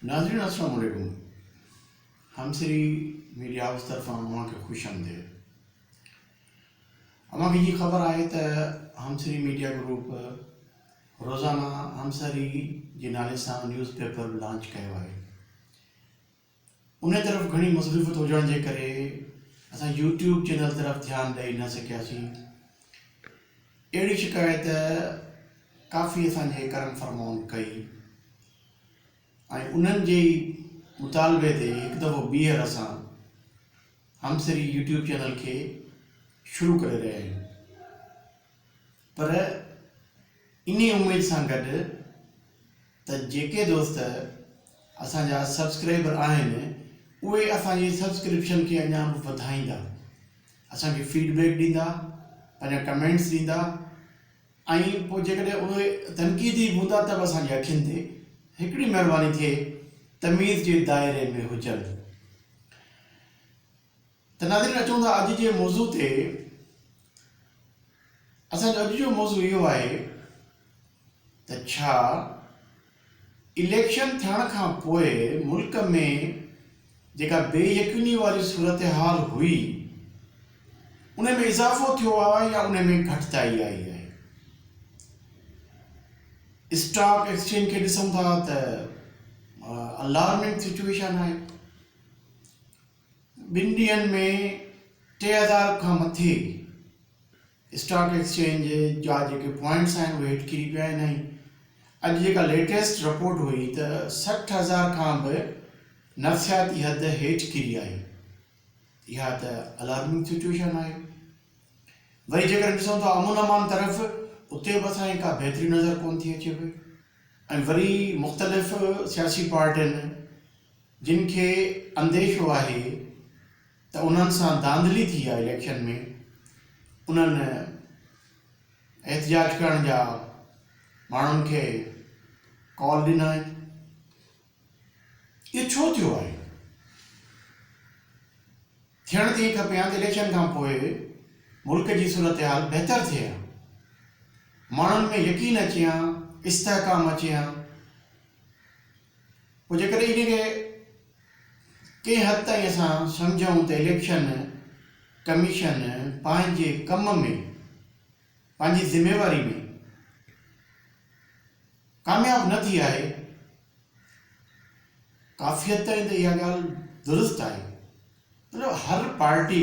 ناظرين السلام عليڪم همسري ميڊيا هائوس طرفان اوهان کي خوش آمديد اوهان کي جي خبر آهي ته همسري ميڊيا گروپ روزانه همسري جي نالي سان نيوز پيپر لانچ ڪيو آهي انهيء طرف گهڻي مصروفيت هجڻ جي ڪري اسان يوٽيوب چينل طرف ڌيان ڏئي نه سگهياسين. اهڙي شڪايت ڪافي اسان جي ڪرن فرمائون ڪئي ۽ انهن جي ئي مطالبي تي هڪ دفعو ٻيهر اسان همسري يوٽيوب چينل کي شروع ڪري رهيا آهيون. پر انهي اميد سان گڏ ته جيڪي دوست اسان جا سبسڪرائبر آهن اهي اسان جي سبسڪرپشن کي اڃا به وڌائيندا اسان کي فيڊ بيڪ ڏيندا پنهنجا ڪمينٽس ڏيندا ۽ پوء جيڪڏهن اهي تنقيدي هوندا ته به اسان جي اکين تي هڪڙي مهرباني ٿئي تميز جي دائري ۾ هجن. ته ناظرين اچون ٿا اڄ جي موضوع تي اسان جو اڄ جو موضوع اهو آهي ته ڇا اليڪشن ٿيڻ کان پوء ملڪ ۾ جيڪا بي يقيني واري صورتحال هئي ان ۾ اضافو ٿيو آهي يا ان ۾ گهٽتائي آئي آهي اسٽاڪ ايڪسچينج کي ڏسون ٿا ته الارمنگ سچويشن آهي ٻن ڏينهن ۾ ٽي هزار کان مٿي اسٽاڪ ايڪسچينج جا جيڪي پوائنٽس آهن اهي هيٺ ڪري پيا آهن ۽ اڄ جيڪا ليٽيسٽ رپورٽ هئي ته سٺ هزار کان به نفسياتي حد هيٺ ڪري آهي اها ته الارمنگ سچويشن آهي وري جيڪڏهن ڏسون ته امن امان طرف اتي به اسان کا بهتري نظر ڪون ٿي اچي پئي ۽ وري مختلف سياسي پارٽين جن کي انديشو آهي ته انهن سان ڌانڌلي ٿي آهي اليڪشن ۾ انهن احتجاج ڪرڻ جا ماڻهن کي ڪال ڏنا آهن اهو ڇو ٿيو آهي ٿيڻ ته ائين کپي هان ته اليڪشن کان پوء ملڪ جي صورتحال بهتر ٿئي هان ماڻهن ۾ يقين اچي هان استحڪام اچي هان پوء جيڪڏهن ان کي ڪنهن حد تائين اسان سمجهون ته اليڪشن ڪميشن پنهنجي ڪم ۾ پنهنجي ذميواري ۾ ڪامياب نه ٿي آهي ڪافي حد تائين ته اها ڳالهه درست آهي پر هر پارٽي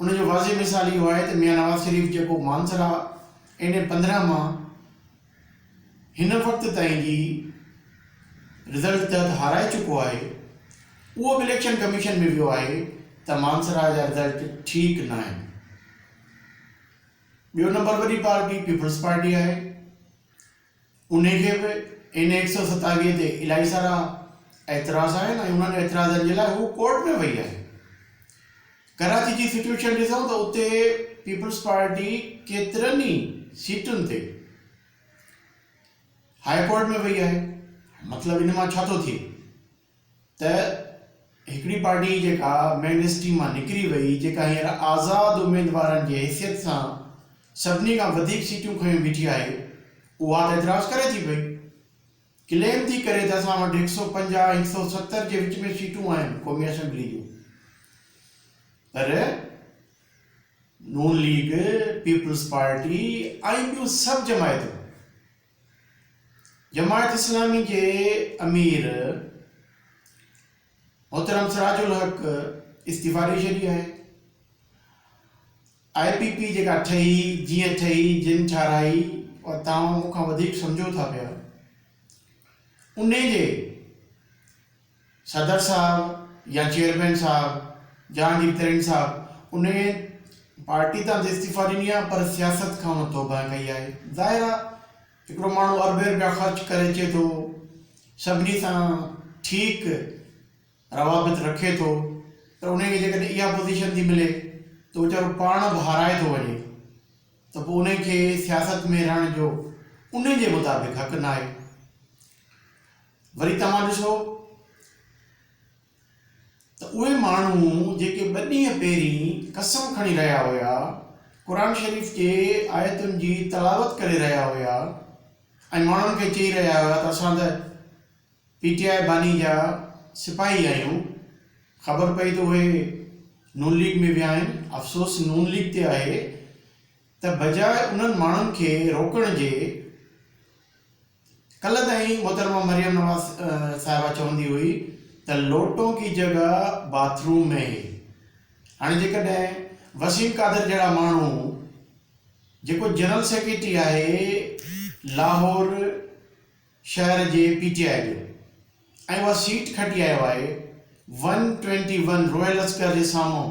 ان جو واضح مثال اهو آهي ته ميان نواز شريف جيڪو مانسهره اين اي پندرهن مان هن وقت تائين جي رزلٽ تحت هارائي چڪو آهي اهو به اليڪشن ڪميشن ۾ ويو آهي ته مانسهره جا رزلٽ ٺيڪ ناهن. ٻيو نمبر وڏي پارٽي پيپلز پارٽي آهي. انهي کي به اين اي هڪ سؤ ستاويهه تي الائي سارا اعتراض آهن ۽ انهن اعتراضن جي لاء هو ڪورٽ ۾ وئي آهي. ڪراچي جي سچويشن ڏسون ته اتي پيپلز پارٽي ڪيترن ئي سيٽن تي هاء ڪورٽ ۾ وئي آهي. مطلب ان مان ڇا ٿو ٿئي؟ ته هڪڙي پارٽي جيڪا مين اسٽريم مان نڪري وئي جيڪا هينئر آزاد اميدوارن جي حيثيت سان سڀني کان وڌيڪ سيٽون کنيو بيٺي آهي اها ته اعتراض ڪري ٿي پئي ڪليم ٿي ڪري ته اسان وٽ هڪ سؤ پنجاهه هڪ سؤ ستر جي وچ ۾ سيٽون آهن قومي اسيمبلي جون پر نون ليگ پيپلز پارٽي ۽ ٻيون سڀ جماعتون جماعت اسلامي جي امير محترم سراج الحق استعيفا ڏئي ڇڏي آهي، آء پي پي جيڪا ٺهي جيئن ٺهي جن ٺاهرائي اها توهان مون کان وڌيڪ سمجهو ٿا پيا انهي جي صدر صاحب يا چيئرمين صاحب جهانگير ترين صاحب ان پارٽي تان استعيفا ڏني آهي پر سياست کان ان توبهه ڪئي آهي ظاهر آهي هڪڙو ماڻهو اربين رپيا خرچ ڪري اچي ٿو سڀني سان ٺيڪ روابط رکي ٿو پر ان کي جيڪڏهن اها پوزيشن ٿي ملي ته ويچارو پاڻ به هارائي ٿو وڃي ته پوء ان کي سياست ۾ رهڻ جو ان جي مطابق حق ناهي وري توهان ڏسو ته اهي ماڻهو جيڪي ٻه ڏينهن پهرين قسم کڻي رهيا هيا، قرآن شريف جي آيتن جي تلاوت ڪري رهيا هيا ۽ ماڻهن کي چئي رهيا هيا ته اسان ته پي ٽي آء باني جا سپاهي آهيون، خبر پئي ته اهي نون ليگ ۾ ويا آهن، افسوس نون ليگ تي آهي ته بجاء انهن ماڻهن کي روڪڻ جي، ڪلهه تائين محترمه مريم نواز صاحبه چوندي هئي ته لوٽون ڪي جگهه باٿ روم مين هي هاڻي جيڪڏهن وسيم قادر جهڙا ماڻهو جيڪو جنرل سيڪريٽري آهي لاهور شهر جي پي ٽي آء جو ۽ اها سيٽ کٽي آيو آهي ون ٽوئنٽي ون روئل لشڪر جي سامهون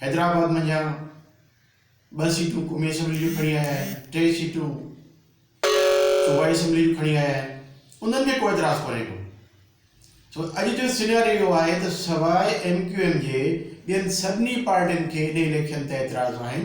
حيدرآباد منجهان ٻه سيٽون قومي اسيمبلي جون کڻي آيا آهن، ٽي سيٽون صوبائي اسيمبلي جون کڻي آيا آهن، انهن ۾ ڪو اعتراض ڪونهي ڪو. سو اڄ جو سيناريو اهو آهي ته سواء ايم ڪيو ايم جي ٻين سڀني پارٽين کي ان اليڪشن تي اعتراض آهن.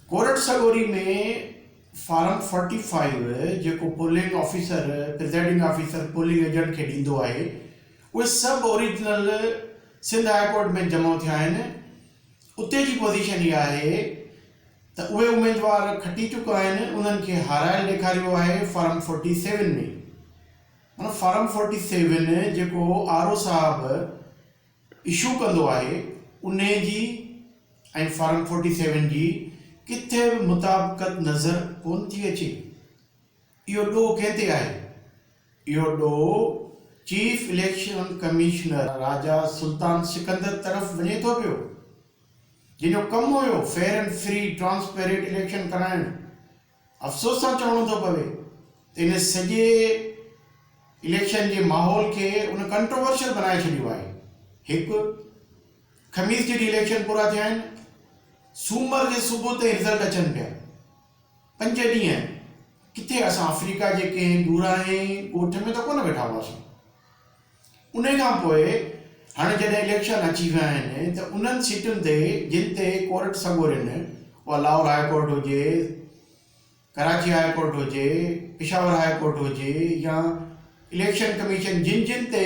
ڪورٽ سڳوري ۾ فارم فورٽي فائيو جيڪو polling officer presiding officer polling agent کي ڏيندو آهي، اهي سڀ اوريجنل سنڌ هاء ڪورٽ ۾ جمع ٿيا آهن، اتي جي پوزيشن اها آهي ته اهي اميدوار کٽي چڪا آهن انهن کي هارايل ڏيکاريو آهي فارم فورٽي سيون ۾ معنيٰ فارم فورٽي سيون جيڪو آر او صاحب اشو ڪندو آهي انهي جي ۽ فارم فورٽي سيون جي ڪٿي به مطابقت نظر ڪون ٿي اچي. اهو ڏوهه ڪنهن تي آهي؟ اهو ڏوهه chief election commissioner Raja Sultan Sikandar طرف وڃي ٿو پيو، جنهن جو ڪم هيو fair and free transparent election ڪرائڻ. افسوس سان چوڻو ٿو پوي ته ان سڄي اليڪشن جي ماحول کي ان ڪنٽروورشل بنائي ڇڏيو آهي. هڪ خميس جي ڏينهن اليڪشن پورا ٿيا آهن، سومر جي صبح تائين رزلٽ اچن پيا. پنج ڏينهن ڪٿي اسان آفريڪا جي ڪنهن ڏورانهين ڳوٺ ۾ ته ڪونه ويٺا هئاسين. انهي کان پوء هاڻي جڏهن اليڪشن اچي ويا آهن ته انهن سيٽن تي جن تي ڪورٽ سڳورين، اها لاهور هاء ڪورٽ هجي، ڪراچي هاء ڪورٽ هجي، پشاور هاء ڪورٽ هجي يا اليڪشن ڪميشن جن جن تي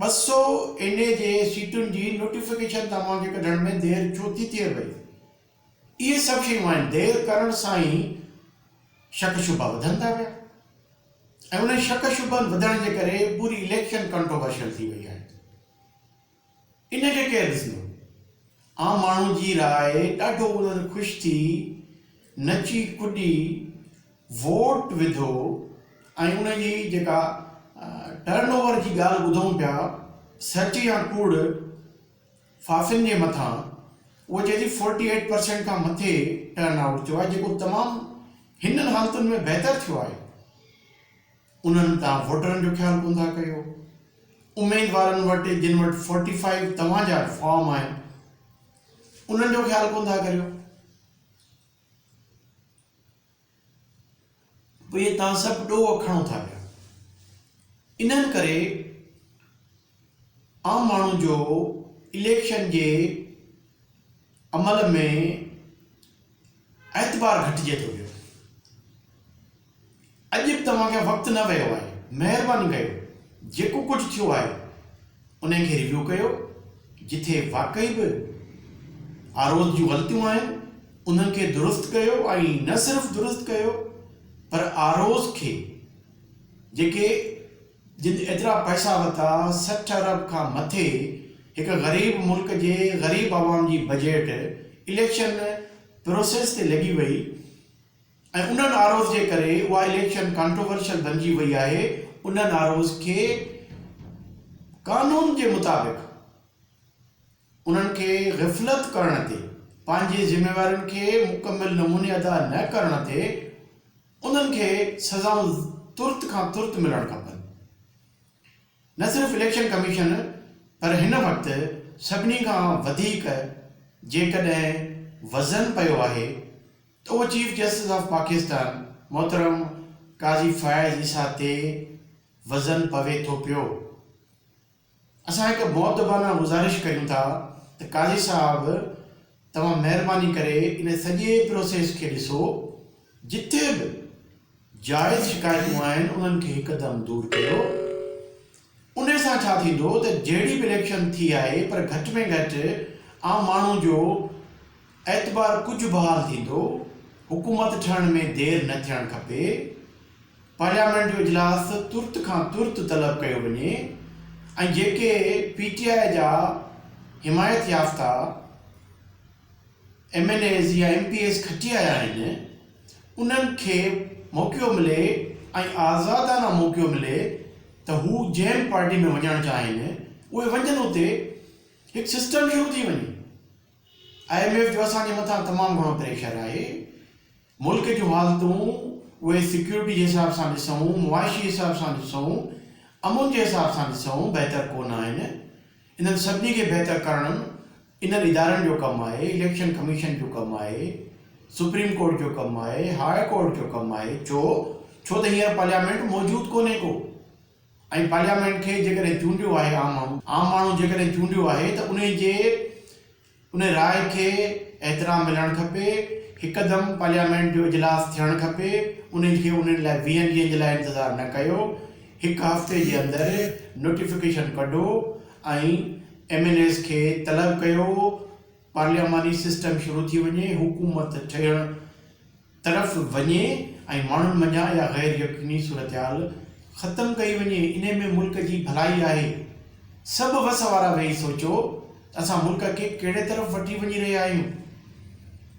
ٻه سؤ اين اي جي سيٽن جي نوٽيفڪيشن توهان کي ڪڍڻ ۾ دير ڇو ٿي ٿئي پئي؟ اهي سڀ شيون آهن، دير ڪرڻ سان ئي شڪ شبها وڌن ٿا پيا ۽ انهن شڪ شبهن وڌڻ جي ڪري پوري اليڪشن ڪنٽروورشل ٿي وئي آهي. ان کي ڪير ڏسندو؟ عام ماڻهو جي راء ڏاڍو انهن خوش ٿي نچي ڪڏي ووٽ وڌو ۽ ان جي جيڪا ٽرن اوور جي ڳالهه ٻڌون پيا سچ يا ڪوڙ فافين جي مٿان اهو چئي ٿي فورٽي ايٽ پرسينٽ کان مٿي ٽرن آئوٽ ٿيو آهي جيڪو تمام هنن حالتن ۾ بهتر ٿيو آهي. انهن تان ووٽرن جو خيال ڪون ٿا ڪيو. اميدوارن وٽ جن وٽ فورٽي فائيو توهان جا فارم آهن انهن جو خيال ڪون ٿا ڪريو. اهي توهان سڀ ڏوهه کڻو ٿا پيا. انهن ڪري عام ماڻهو جو اليڪشن جي عمل ۾ اعتبار گهٽجي ٿو ويو. اڄ به توهان کي وقت نه ويو آهي مهرباني ڪيو جيڪو ڪجهه ٿيو آهي انهي کي ريويو ڪيو جتي واقعي به آر اوز جون غلطيون آهن انهن کي درست ڪيو ۽ نه صرف درست ڪيو پر آر اوز کي جيڪي جن ايترا پئسا ورتا، سٺ ارب کان مٿي هڪ غريب ملڪ جي غريب عوام جي بجيٽ اليڪشن پروسيس تي لڳي وئي ۽ ان ناروز جي ڪري اها اليڪشن ڪانٽروورشل بنجي وئي آهي ان ناروز کي قانون جي مطابق انهن کي غفلت ڪرڻ تي پنهنجي ذميوارين کي مڪمل نموني ادا نه ڪرڻ تي انهن کي سزائون ترت کان ترت ملڻ کپن. نه صرف اليڪشن ڪميشن پر هن وقت سڀني کان وڌيڪ جيڪڏهن وزن پيو آهي ته اهو چيف جسٽس آف پاڪستان محترم قاضي فائز عيسيٰ تي وزن پوي ٿو پيو. اسان هڪ مؤدبانه گذارش ڪريون ٿا ته قاضي صاحب توهان مهرباني ڪري ان سڄي پروسيس کي ڏسو جتي به جائز شڪايتون آهن انهن کي هڪدم دور ڪيو ان سان ڇا ٿيندو ته جهڙي به اليڪشن ٿي آهي پر گهٽ ۾ گهٽ عام ماڻهو جو اعتبار ڪجهه بحال ٿيندو، حڪومت ٺهڻ ۾ دير نه ٿيڻ کپي، پارليامينٽ جو اجلاس ترت کان ترت طلب ڪيو وڃي ۽ جيڪي پي ٽي آء جا حمايت يافته ايم اين ايز يا ايم پي ايز کٽي آيا آهن انهن کي موقعو ملي ۽ آزادانه موقعو ملي ته هو جنهن پارٽي ۾ وڃڻ چاهين اهي وڃن اتي هڪ سسٽم شروع ٿي وڃي. آء ايم ايف جو اسان جي مٿان تمام گهڻو پريشر آهي، ملڪ جون حالتون اهي سيڪيورٽي جي حساب سان ڏسون، معاشي حساب سان ڏسون، امن جي حساب سان ڏسون بهتر ڪونه آهن، انهن سڀني کي بهتر ڪرڻ انهن ادارن جو ڪم آهي، اليڪشن ڪميشن جو ڪم آهي، سپريم ڪورٽ جو ڪم آهي، هاء ڪورٽ جو ڪم آهي، ڇو ڇو ته هينئر پارليامينٽ موجود ڪونهي ڪو. ۽ پارليامينٽ کي جيڪڏهن چونڊيو آهي عام ماڻهو، عام ماڻهو جيڪڏهن چونڊيو آهي ته انهي جي انهي راء کي احترام ملڻ کپي، هڪدم پارليامينٽ جو اجلاس ٿيڻ کپي، انهي کي انهي لاء ويهن ڏينهن جي لاء انتظار نه ڪيو، هڪ هفتي جي اندر نوٽيفڪيشن ڪڍو ۽ ايم اين ايز کي طلب ڪيو پارلياماني سسٽم شروع ٿي وڃي، حڪومت ٺهڻ. طرف وڃي ۽ ماڻهن منجهان اها غير يقيني صورتحال ختم ڪئي وڃي انهي ۾ ملڪ جي ڀلائي آهي سڀ وس وارا ويهي سوچو ته اسان ملڪ کي ڪهڙي طرف وٺي وڃي رهيا آهيون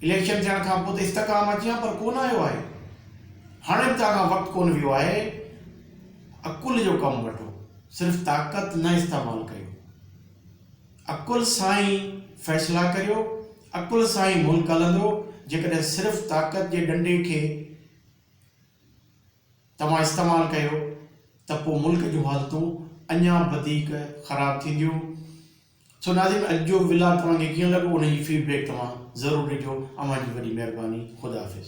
اليڪشن ٿيڻ کان پوء ته استحڪام اچي ها پر ڪونه آيو آهي هاڻي به توهان کان وقت ڪونه ويو آهي عقل جو ڪم وٺو صرف طاقت نه استعمال ڪيو. عقل سان ئي فيصلا ڪريو، عقل سان ئي ملڪ هلندو، جيڪڏهن صرف طاقت جي ڏنڊي کي توهان استعمال ڪيو ته پوء ملڪ جون حالتون اڃا وڌيڪ خراب ٿينديون. سو ناظرين اڄ جو ولاگ توهان کي ڪيئن لڳو انهي جي فيڊ بيڪ توهان ضرور ڏجو. اوهان جي وڏي مهرباني. خدا حافظ.